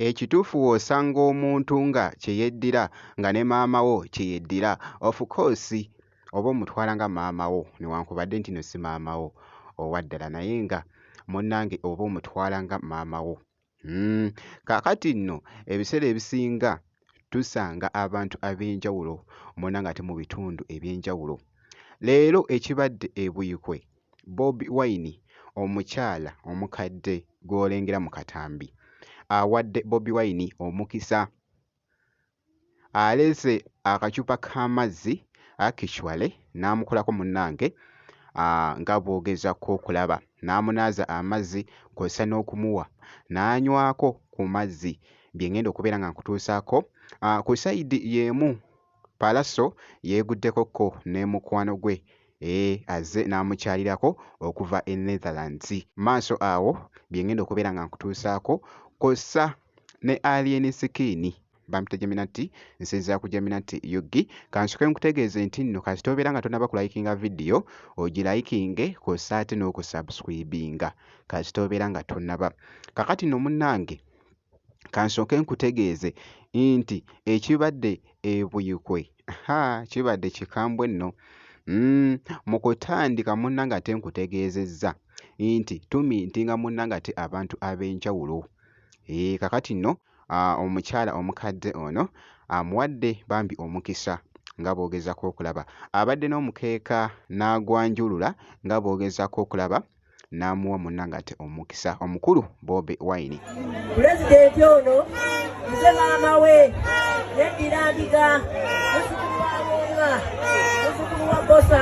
ekituufu w'osanga omuntu nga kye yeddira nga ne maama wo kye yeddira of course oba omutwala nga maama wo newankubadde nti no si maama wo owaddala naye nga munnange oba omutwala nga maama wo. Hmm, kaakati nno ebiseera ebisinga tusanga abantu ab'enjawulo mwonna nga te mu bitundu eby'enjawulo. Leero ekibadde e Buikwe, Bobi Wine omukyala omukadde gw'olengera mu katambi awadde Bobi Wine omukisa. aleese akacupa k'amazzi actually n'amukolako munnange nga bw'ogezaako okulaba n'amunaaza amazzi kw'ossa n'okumuwa n'anywako ku mazzi bye ng'enda okubeera nga nkutuusaako. Ku sayidi y'emu Pallaso yeeguddeko ko ne mukwano gwe e azze n'amukyalirako okuva e Netherlands. Maaso awo bye ng'enda okubeera nga nkutuusaako kw'ossa ne Alien Skin bampita Jaminati nsinzira ku Jaminati UG kansoke nkutegeeze nti nno kasita obeera nga tonaba kulayikinga vidiyo ogilayikinge kw'ossa ate n'okusubscribinga kasita obeera nga tonaba kakati no munnange kansooke nkutegeeze nti ekibadde ebuyikwe ha kibadde kikambwe nno mm, mu kutandika munnange ate nkutegeezezza nti tumintinga munnange ate abantu ab'enjawulo Eeh kakati nno omukyala omukadde ono amuwadde bambi omukisa nga bw'ogezaako okulaba abadde n'omukeeka n'agwanjulula nga bw'ogezaako okulaba n'amuwa munnangate omukisa omukulu Bobi Wine. Pulezidenti ono nze maama we yeddira Ndiga muzukulu wa Musa muzukulu wa Bosa.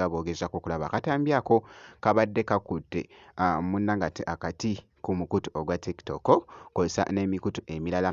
nga boogezaako okulaba akatambi ako kabadde kakutte ah, munna ngate akati ku mukutu ogwa TikTok kw'ossa n'emikutu emirala.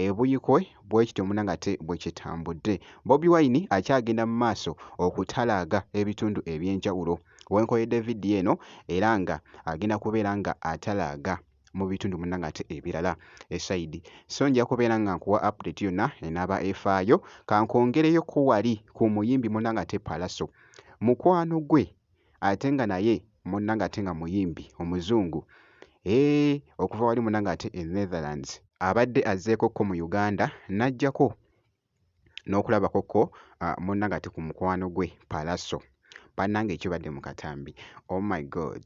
ebuyikwe bwekityo munangate bwekitambudde bobi wine akyagenda mu maaso okutalaaga ebitundu ebyenjawulo wenkoyedde vidiyo eno era nga agenda kubeera nga atalaaga mu bitundu munangate ebirala esaidi so nja kubeera nga nkuwa update yonna enaaba efaayo kankwongereyo ku wali ku muyimbi munangate palaso mukwano gwe ate nga naye munnange ate nga muyimbi Omuzungu eeh okuva wali munnange ate e Netherlands. Abadde azzeekokko mu Uganda n'aggyako n'okulabakokko munnange ate ku mukwano gwe Pallaso. Bannange ekibadde mu katambi oh my God!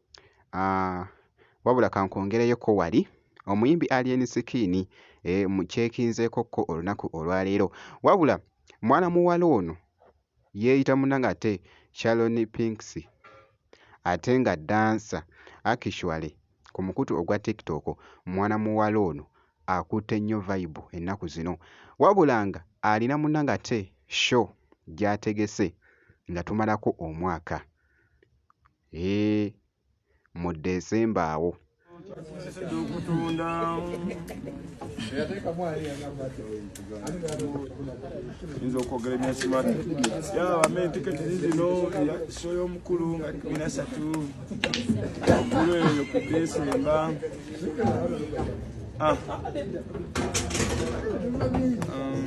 aah wabula kankwongereyokko wali omuyimbi Alien Skin eeh mu kyekinzeekokko olunaku olwaleero wabula mwana muwala ono yeeyita munnange ate Sharon Pinks ate nga ddansa actually ku mukutu ogwa TikTok mwana muwala ono akutte nnyo vayibu ennaku zino wabula nga alina munnange ate show gy'ategese nga tumalako omwaka. Eeh mudde nsemba awo. Nze okwogera ebyasimati yabame tiketi zizino show y'omukulu nga kumi nasatu omukulu eyo ku desemba ah. um,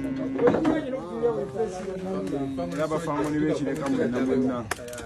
laba famoni bekireka mwena mwena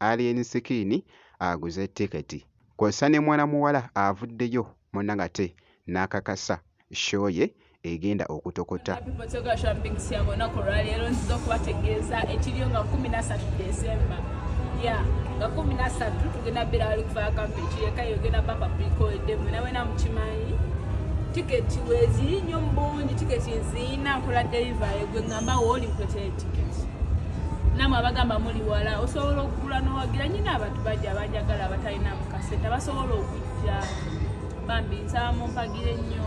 Alien Skin aguze tiketi kw'ossa ne mwana muwala avuddeyo munna ng'ate n'akakasa show ye egenda okutokota. Tiketi weeziri nnyo mu bungi, tiketi nzirina nkola delivery gwe ngamba wooli nkuletere tiketi. namwe abagamba muli wala osobola okugula nowagira nyina abantu bajja abajagala abatalina mukasente abasobola okujja bambi nsaba mumpagire nnyo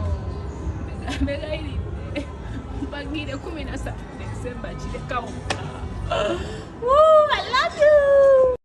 begairidde mpagire kumi nasatu desemba kirekawo